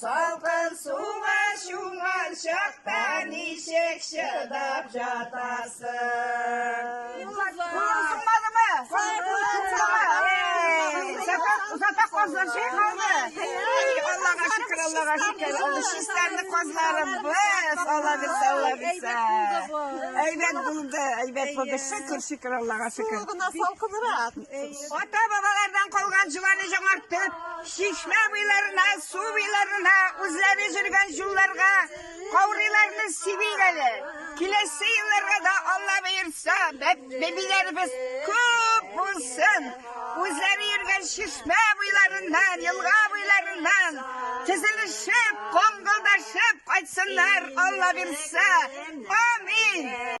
Салкын суга чумган чакта ничек чыдап жатасың? Юлларсыңмадымы? Озата казлар чәй калды. Аллага шөкер, Аллага шөкер. Ул чистәрне казларым без. Алла бирсә, Алла бирсә. Әйбәт булды, әйбәт булды. Шөкер, шөкер, Аллага шөкер. Гына салкынрак. Ата-бабалардан калган җыланы җаңартып, Чишмә буйларына, су буйларына, үзләре жүргән юлларга каурыйларны сибик әле. Киләсе елларга да Алла боерса, бәбиләребез күп булсын. Үзләре йөргән чишмә буйларыннан, елга буйларыннан тезелешеп, коңгылдашып кайтсыннар, Алла бирсә. Амин.